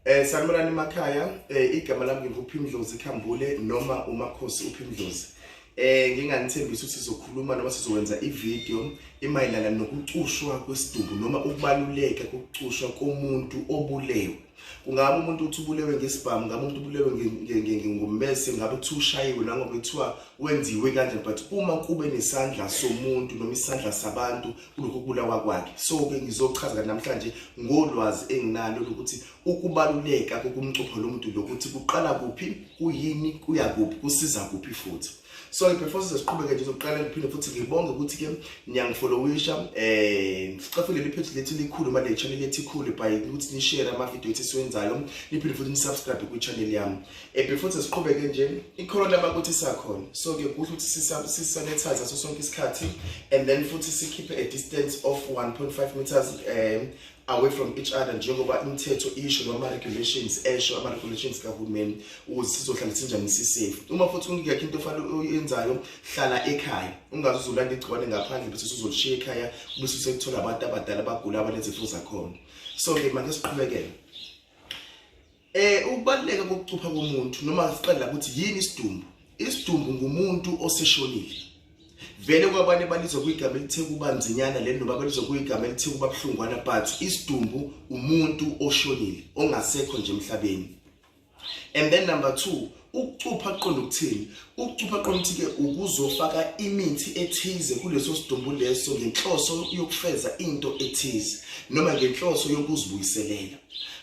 Eh sanibonani emakhaya eh igama lami nginguphimdlozi khambule noma umakhosi uphimdlozi eh nginganithembisa ukuthi sizokhuluma noma sizokwenza ivideo imayelana nokucushwa kwesidumbu noma ukubaluleka kokucushwa komuntu obulewe kungabe umuntu uthi ubulewe ngesibhamu ngabe umuntu ubulewe ngommese ngabe uthi ushayiwe nangoba kuthiwa wenziwe kanje but uma kube nesandla somuntu noma isandla sabantu kulokhu kubulawa kwakhe so-ke ngizochaza namhlanje ngolwazi enginalo lokuthi ukubaluleka kokumcupha lo muntu lokuthi kuqala kuphi kuyini kuya kuphi kusiza kuphi futhi so before size siqhubeke nje zokuqala ngiphinde futhi ngibonge ukuthi ke niyangifolowisha eh sicafile le page lethu likhulu manje le channel lethu ikhulu by ukuthi ni share ama video ethi siwenzayo niphinde futhi ni subscribe ku channel yami eh before size siqhubeke nje ikhona lama ukuthi sakhona so ke kuhle ukuthi sisanitize so sonke isikhathi and then futhi sikhiphe a distance of 1.5 meters eh away from each other njengoba imithetho isho noma ama-regulations esho ama-regulations kahulumeni ukuze sizohlala sinjani sisafe uma futhi ungekho into ofanele uyenzayo hlala ekhaya ungaze uzolanda igciwane ngaphandle bese uzolishiya ekhaya bese usekuthola abantu abadala abagula abanezifo zakhona so-ke manje siqhubekele Eh ukubaluleka kokucupha komuntu noma siqala ukuthi yini isidumbu. Isidumbu ngumuntu oseshonile. Vele kwabanye balizwa kwigama elithe kuba nzinyana le noma balizwa kwigama elithe kuba buhlungwana but isidumbu umuntu oshonile ongasekho nje emhlabeni. And then number 2 Ukucupha kuqonda ukuthini? Ukucupha kuqonda ukuthi-ke ukuzofaka imithi ethize kuleso sidumbu leso ngenhloso yokufeza into ethize noma ngenhloso yokuzibuyiselela.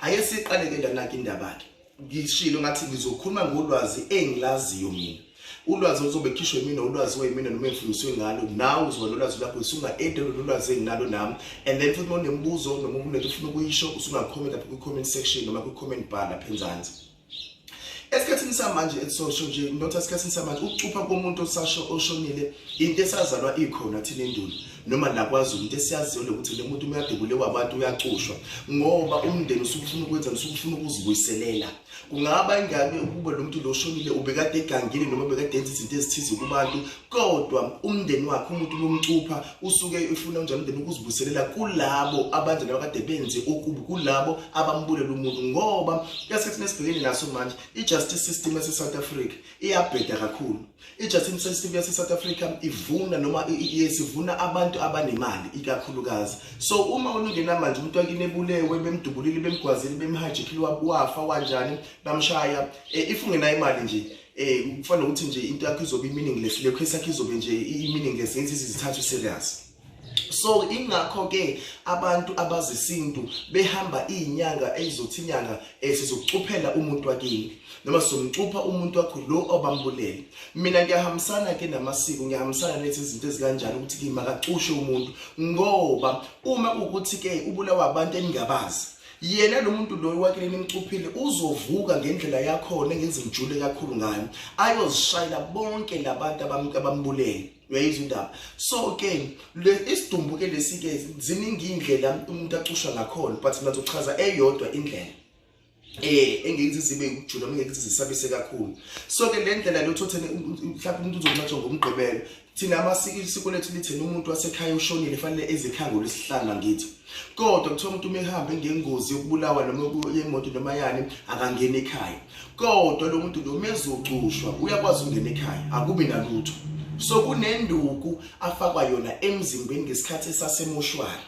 Ake siqaleke lana-ke indaba-ke. Ngishilo ngathi ngizokhuluma ngolwazi engilaziyo mina. Ulwazi oluzobe khishwe yimina ulwazi wayimina noma engifundiswe ngalo nawe uzoba nolwazi lakho usunga-ede lolwazi enginalo nami and then futhi uma unemibuzo noma unento ufuna ukuyisho usungakhomenta lapha kwi-comment section noma kwi-comment bar lapha enzansi. esikhathini samanje esisosho nje not esikhathini samanje ukucupha komuntu osasho oshonile into esazalwa ikhona thina endulo noma nakwazulu into esiyaziyo lokuthi le muntu uyadubule wabantu uyacushwa ngoba umndeni usukufuna ukwenza usukufuna ukuzibuyiselela kungaba ingane ukuba lo muntu lo oshonile ubekade egangile noma bekade enza izinto ezithize kubantu kodwa umndeni wakhe umuntu lomcupha usuke ufuna unjani umndeni ukuzibuselela kulabo abanje nabakade benze okubi kulabo abambulela umuntu ngoba esikhathini esibhekene naso manje i-justice system yase-south africa iyabheda kakhulu i-justice system yase-south africa ivuna noma sivuna abantu abanemali ikakhulukazi so uma unungena manje umuntu wakini ebulewe bemdubulile bemgwazile bemhajikile wafa wanjani bamshaya eh, if ungenayo imali nje Eh kufana nokuthi nje into yakho izobe meaningless le case yakho izobe nje i-meaningless ngenzi izithathu serious. So ingakho ke abantu abazisintu behamba izinyanga ezizothi inyanga esizokucuphela eh, umuntu wakini noma somcupha umuntu wakho lo obambulele mina ngiyahambisana ke namasiko ngiyahambisana nethi izinto ezikanjani ukuthi kimakacushwe umuntu ngoba uma ukuthi ke ubulawa abantu eningabazi yena lo muntu loyo wakini nimcuphile uzovuka ngendlela yakhona engenza ngijule kakhulu ngayo ayozishayela bonke labantu abambulele uyayizwa indaba so ke isidumbu ke lesi ke ziningi indlela umuntu acusha ngakhona but mina ngizochaza eyodwa indlela eh engeke zibe ukujula ngeke zisabise kakhulu so ke le ndlela lo thothene mhlawumbe umuntu uzonqatshwa ngomgqibelo Thina amasiko isiko lethu lithena umuntu wasekhaya ushonile fanele ezikhangula isihlanga ngithi. Kodwa kuthiwa umuntu uma ehamba ngengozi yokubulawa noma yemoto noma yani akangena ekhaya. Kodwa lo muntu noma ezocushwa uyakwazi ukungena ekhaya akubi nalutho. So kunenduku afakwa yona emzimbeni ngesikhathi esasemoshwari.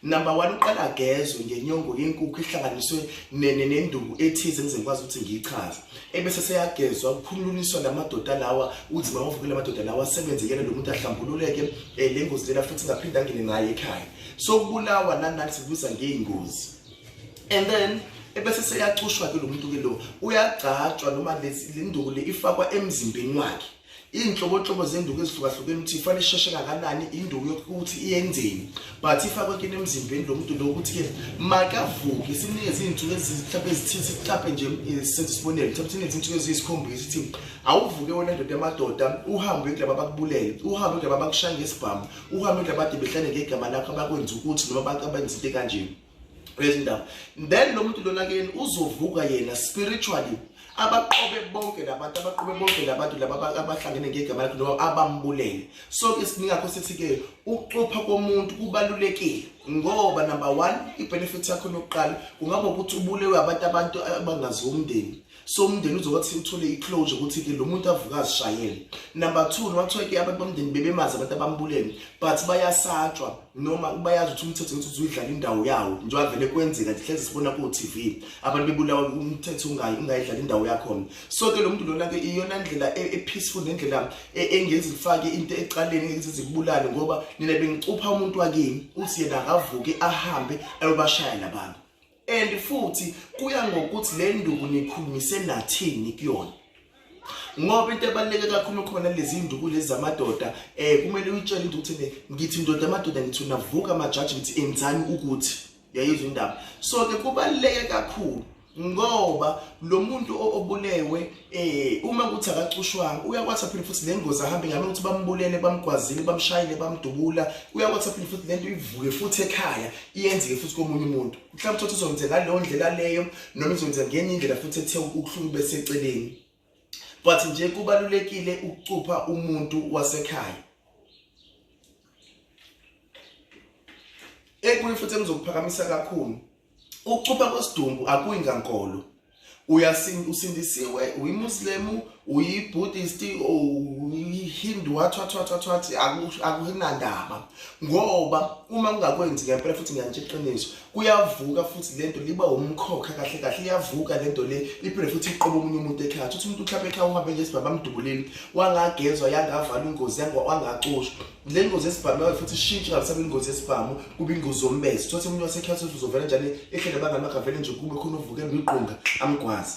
number one uqala agezwe ngenyongo yenkukhu ihlanganiswe nenduku ethize engizengikwazi ukuthi ngiyichaze ebese seyagezwa kukhulunyiswa la madoda lawa uthi mawavukele amadoda lawa asebenze yena lo muntu ahlambululeke um le ngozi lena futhi ngaphinde angene ngayo ekhaya so kubulawa nanani sikubiza ngeyingozi and then ebese seyacushwa ke lo muntu ke lo uyagcatshwa noma le nduku le ifakwa emzimbeni wakhe iy'nhlobonhlobo zenduku ezihlukahlukene ukuthi ifane isheshe kanganani induku yokuthi iyenzeni but ifakwe kini emzimbeni lo muntu lo ukuthi-ke makavuke sinikeze iy'nsuku mhlawumpe ezithithi mhlawumpe nje eh, senze isibonelo mhlawumpe sinikeze iy'nsuku eziyisikhombisa ukuthi awuvuke wena ndoda yamadoda uhambe kulaba bakubulele uhambe kulaba bakushaya ngesibhamu uhambe kulaba ade behlale ngegama lakho abakwenza ukuthi noma abantu abenza into ekanjeni Praise indaba. Then lo muntu lona kuyena uzovuka yena spiritually abaqobe bonke labantu abaqobe bonke labantu laba abahlangene ngegama lakhe noma abambulele so ke siningakho sithi ke ukucupha komuntu kubalulekile ngoba number 1 ibenefit yakho lokuqala kungaba ukuthi ubulewe abantu abantu abangazi umndeni so umndeni uzokwathi uthole i-closure ukuthi ke lo muntu avuke azishayele number two noma kuthiwa ke abantu bomndeni bebemazi abantu abambulele but bayasatshwa noma bayazi ukuthi umthetho ukuthi uzuyidlala indawo yawo njengoba vele kwenzeka nje hlezi sibona ku-tv abantu bebulawa umthetho ungayidlala indawo yakhona so ke lo muntu lona ke iyona ndlela e, e-peaceful nendlela e, engenzi lifake into ecaleni engenzi zikubulale ngoba nina bengicupha umuntu wakini uthi yena akavuke ahambe ayobashaya labantu and futhi kuya ngokuthi le nduku nikhulumise nathini kuyona ngoba into ebaluleke kakhulu khona lezi nduku lezi zamadoda eh kumele uyitshele into ukuthi ngithi ndoda amadoda ngithi unavuka amajaji ngithi enzani ukuthi yayizwa indaba so ke kubaluleke kakhulu ngoba lo muntu obulewe Eh uma kuthi akacushwanga uyakwathi aphinde futhi lengozi ahambe ngabe ukuthi bambulele bamgwazile bamshayile bamdubula uyakwathi aphinde futhi lento ivuke futhi ekhaya iyenzeke futhi komunye umuntu mhlawumbe uthi uzokwenza ngaleyo ndlela leyo noma izokwenza ngenye indlela futhi ethe ukuhlungu beseceleni but nje kubalulekile ukucupha umuntu wasekhaya ekunye futhi engizokuphakamisa kakhulu Ukucupha kwesidumbu akuyi ngankolo. Uyasin usindisiwe uyiMuslim, uyiBuddhist, uyiHindu wathi wathi wathi wathi akunandaba. Ngoba uma ungakwenzi ngempela futhi ngiyantshe iqiniso, kuyavuka futhi lento liba umkhokha kahle kahle iyavuka lento le iphinde futhi iqobo omunye umuntu ekhaya. Uthi umuntu uhlaphe ekhaya uhambe nje sibaba amdubulile, wangagezwa yangavala ingozi yangacushwa. le ngozi yesibhamu yayo futhi ishintshe ngabisaba ingozi yesibhamu kube ingozi yombezi kuthiwa semunye wasekhaya sothi uzovela njani ehlele abangani bakhe avele nje kube khona uvuke ngwiqunga amgwazi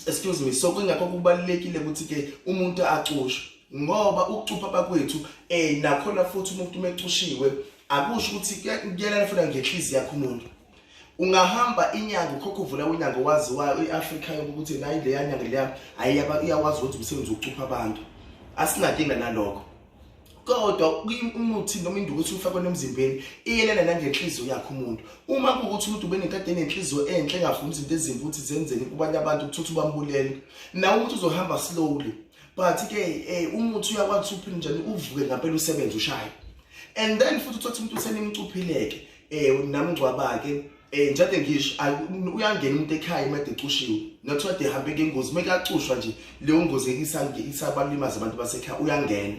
excuse me so kungakho kubalulekile ukuthi-ke umuntu acushe ngoba ukucupha bakwethu um eh, nakhona futhi umuntu uma ecushiwe akusho ukuthi kuyalala futhi angenhlizi yakho umuntu ungahamba inyanga ukhokha uvula unyango waziwayo i-afrika yoke ukuthi nayi leya nyanga leya ayiyaba iyakwazi ukuthi umsebenzi wokucupha abantu asinankinga nalokho kodwa umuthi noma induku ethi ufakwe nomzimbeni iyelana nangenhliziyo yakhe umuntu uma kuwukuthi umuntu ubenekade enenhliziyo enhle engafuni izinto ezimbi ukuthi zenzeni kubanye abantu kuthuthi ubambulele nawe umuntu uzohamba slowly but ke eh, umuthi uyakwazi ukuthi uphinde njani uvuke ngampela usebenze ushaye and then futhi uthothi umuntu usenimcuphileke eh namngcwabake eh njade ngisho uyangena umuntu ekhaya imede ecushiwe nothiwa de hambe ngengozi uma kacushwa nje leyo ngozi isabalimaza abantu basekhaya uyangena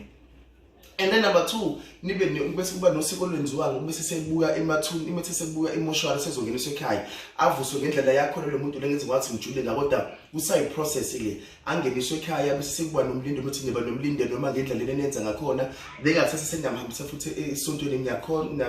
and then number two nibe bese kuba nosiko olwenziwayo bese sebuya emathuni imethe sebuya emoshwari sezongeniswa ekhaya avuswe ngendlela yakhona lo muntu lengenze wathi ngijule la kodwa kusayi process le angeniswe ekhaya bese sekuba nomlindelo ukuthi niba nomlindelo noma ngendlela lena nenza ngakhona bengathatha sengamhambisa futhi esontweni ngiyakhona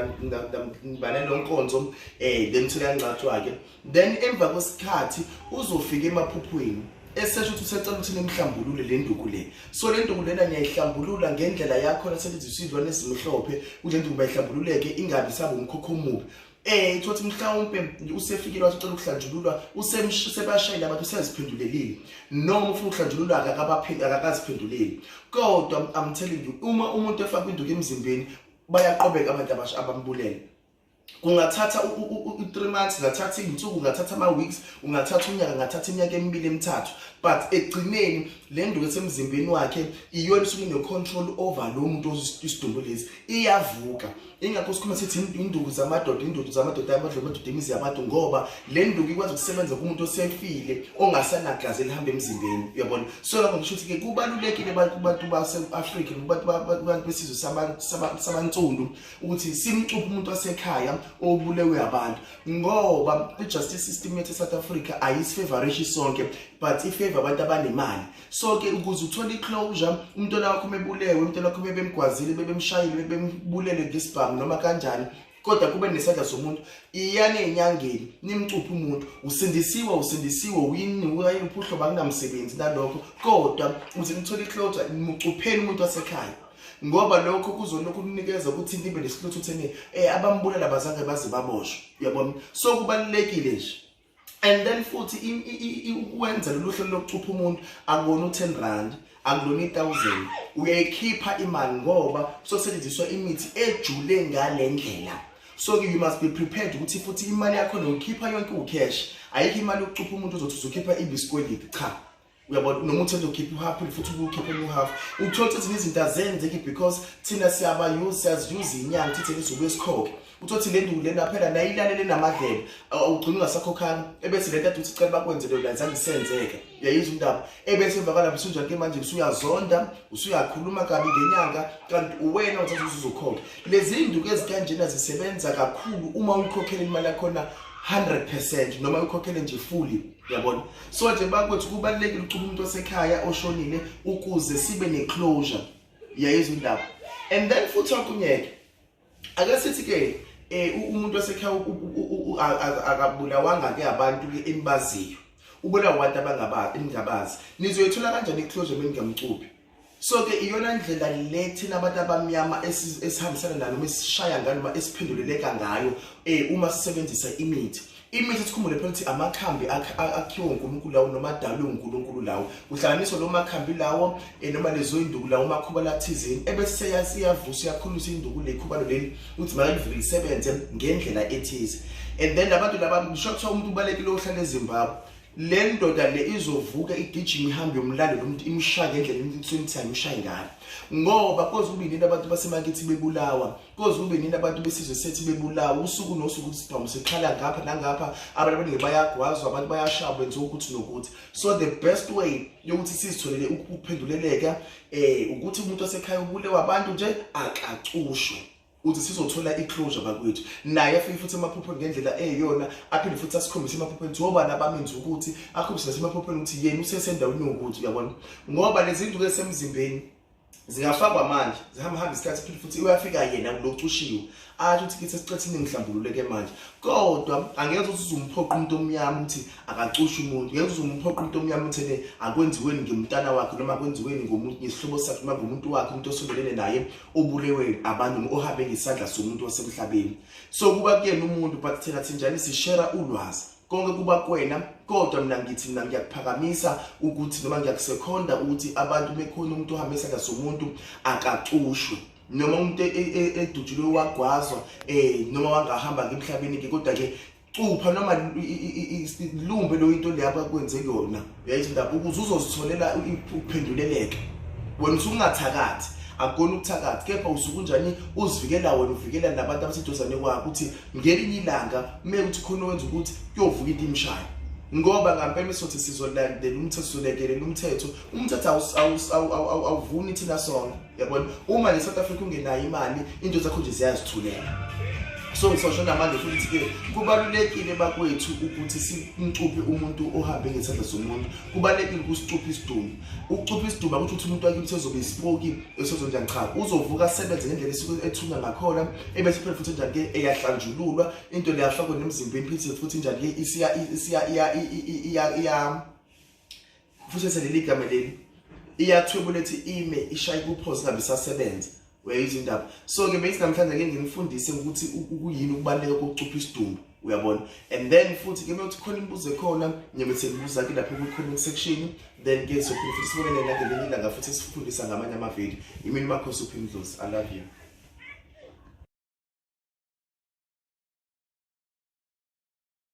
ngibane lo nkonzo um eh, then uthole yangcatshwa-ke then emva kwesikhathi uzofika emaphuphweni esesho ukuthi usecela ukuthi nimhlambulule le nduku le so le nduku lena niyayihlambulula ngendlela yakhona selithi isilwane ezimhlophe kule nduku bayihlambululeke ingabi sabe umkhokho omubi eh thothi mhlawumbe usefikile wasicela ukuhlanjululwa usemshayile abantu useziphendulelile noma ufuna ukuhlanjululwa akakabaphindi akakaziphenduleli kodwa i'm telling you uma umuntu efaka induku emzimbeni bayaqobeka abantu abasha abambulele kungathatha u-3 months ngathatha iy'nsuku ngathatha ama-weeks ungathatha unyaka ngathatha iminyaka emibili emithathu but ekugcineni le nduku esemzimbeni wakhe iyona isuke ine-control over lo muntu isidumbu lesi iyavuka ingakho sikhuluma sithi induku zamadoda induku zamadoda amadlozi amadoda imizi yabantu ngoba le nduku ikwazi ukusebenza kumuntu osefile ongasanagazi elihamba emzimbeni uyabona so lapho ngisho ukuthi-ke kubalulekile abantu base-afrika kubantu besizwe sabantsundu ukuthi simcuphe umuntu wasekhaya obulewe abantu ngoba i-justice system yethu e-south africa ayisifavorishi sonke but ifeva abantu abanemali so ke ukuze uthole iclosure umntwana wakho mebulewe umntwana wakho bebemgwazile bebemshayile bebembulele ngesibhamu noma kanjani kodwa kube nesandla somuntu iyani enyangeni nimcuphe umuntu usindisiwe usindisiwe uyini uyini uphuhlo bakunamsebenzi nalokho kodwa uze nithole iclosure mucupheni umuntu wasekhaya ngoba lokho kuzolokhu kunikeza ukuthi nibe nesihluthu thene eh abambulala bazange baze baboshwe uyabona so kubalekile nje and then futhi ukwenza lolu hlelo lokucupha umuntu akubona u-ten rand akulona i-thousand uyayikhipha imali ngoba kuzosetshenziswa imithi ejule ngale ndlela so ke you must be prepared ukuthi futhi imali yakho noyikhipha yonke ucash ayikho imali yokucupha umuntu ozothi uzokhipha ibisikwelidi cha uyabona noma uthanda ukhipha uhalf phela futhi ukukhipha uhalf uthola ukuthi ezinye izinto azenzeki because thina siyabayuza siyaziyuza inyanga thithe lizobe sikhoke uthothi le nduku lena phela nayo ilalele namadlebe ugcina ungasakhokhanga ebese le nto ade uthi cela bakwenze leyo lanza ngisenzeke uyayiza umntaba ebese emva kalapho usunjani ke manje usuyazonda usuyakhuluma kabi ngenyanga kanti uwena uthatha usuzokhokha lezi iy'nduku ezikanjena zisebenza kakhulu uma uyikhokhela imali yakhona 100 percent noma uyikhokhele nje fully yabona so nje bakwethu kubalulekile ukucuma umuntu osekhaya oshonile ukuze sibe neclosure yayizwa indaba and then futhi okunyeke ake sithi ke eh umuntu osekhaya akabulawanga ke abantu ke enibaziyo ubulawa abantu abangabazi ningabazi nizoyithola kanjani iclosure mina ngingamcuphi so ke iyona ndlela le thina abantu abamnyama esihambisana nalo uma esishaya ngayo noma esiphenduleleka ngayo um uma sisebenzisa imithi imithi sikhumbule phela ukuthi amakhambi akhiwe uNkulunkulu lawo noma adalwe uNkulunkulu lawo kuhlanganiswa lo makhambi lawo eh, noma lezo induku lawo makhuba lathizeni ebese seyasiyavusa uyakhulisa induku lekhubalo leli ukuthi makalivike lisebenze ngendlela ethize and then labantu laba ngisho kuthiwa umuntu ubalekile ohlala eZimbabwe le ndoda le izovuka igijima ihambe yomlando lo muntu imshaya ngendlela imthini ukuthi ayimshayi ngalo ngoba koze kube nini abantu basemakithi bebulawa koze kube nini abantu besizwe sethi bebulawa usuku nosuku ukuthi sibhamu sikhala ngapha nangapha abantu abaningi bayagwazwa abantu bayashaya benziwa ukuthi nokuthi so the best way yokuthi sizitholele ukuphenduleleka um ukuthi umuntu osekhaya ubulewa abantu nje akacushwe uthi sizothola i-closure bakwethu naye afike futhi emaphupheni ngendlela eyiyona aphinde futhi asikhombise emaphupheni ukuthi obani abamenzi ukuthi akhombise nasemaphupheni ukuthi yena usesendaweni yokuthi uyabona ngoba lezi nduku esemzimbeni zingafakwa manje zihamba hamba isikhathi phinde futhi uyafika yena kulokhu ushiwo athi ukuthi kithi esiqethe iningi mhlambululeke manje kodwa angeke ukuthi uzumphoqa umuntu omnyama ukuthi akacushe umuntu ngeke uzumphoqa umuntu omnyama ukuthi ne akwenziweni ngimntana wakhe noma akwenziweni ngomuntu ngesihlobo sakhe noma ngomuntu wakhe umuntu osondelene naye ubulewe abantu noma ohambe ngesandla somuntu wasemhlabeni so kuba kuyena umuntu but thina sinjani sishera ulwazi konke kuba kwena kodwa mina ngithi mina ngiyakuphakamisa ukuthi noma ngiyakusekhonda ukuthi abantu bekhona umuntu ohamba isandla somuntu akacushwe noma umuntu e, e, e, edutshulwe wagwazwa um noma wangahamba ngemhlabeni-ke kodwa-ke cupha noma lumbe lo into leya bakwenze kuyona yayithi mntabi ukuze uzozitholela ukuphenduleleka wena usungathakathi akukona ukuthakathi kepha usuke unjani uzivikela wena uvikela nabantu abaseduzane kwakho ukuthi ngelinye ilanga kume ukuthi khona wenza ukuthi kuyovuka into imshayo ngoba ngampela isothi sizolandela umthetho solekelela umthetho umthetho awuvuni thina sonke yabona uma ne-south africa ungenayo imali into zakho nje ziyazithulela so ngisosho namanje futhi-ke kubalulekile bakwethu ukuthi simcuphe umuntu ohambe ngesandla somuntu kubalulekile ukusicupha isidumbu ukucupha isidumbu akuthi ukuthi umuntu wakithi ezobe isipoki esezonjani cha uzovuka asebenze ngendlela esuke ethunywa ngakhona ebese phela futhi njani-ke eyahlanjululwa into leyafakwe nemzimbeni phithise futhi njani-ke isiya Futhi leli gama leli iyathwebula ethi ime ishaye kuphoze ngabe isasebenza uyayizwa indaba so ke bese namhlanje ngeke ngimfundise ukuthi ukuyini ukubaleka kokucupha isidumbu uyabona and then futhi ke mewuthi khona imibuzo ekhona ngibe sengibuza ke lapho kwi-comment section then ke sophinde futhi sibonele nake lenye ilanga futhi sifundisa ngamanye amavidiyo imini makho suphindlozi i love you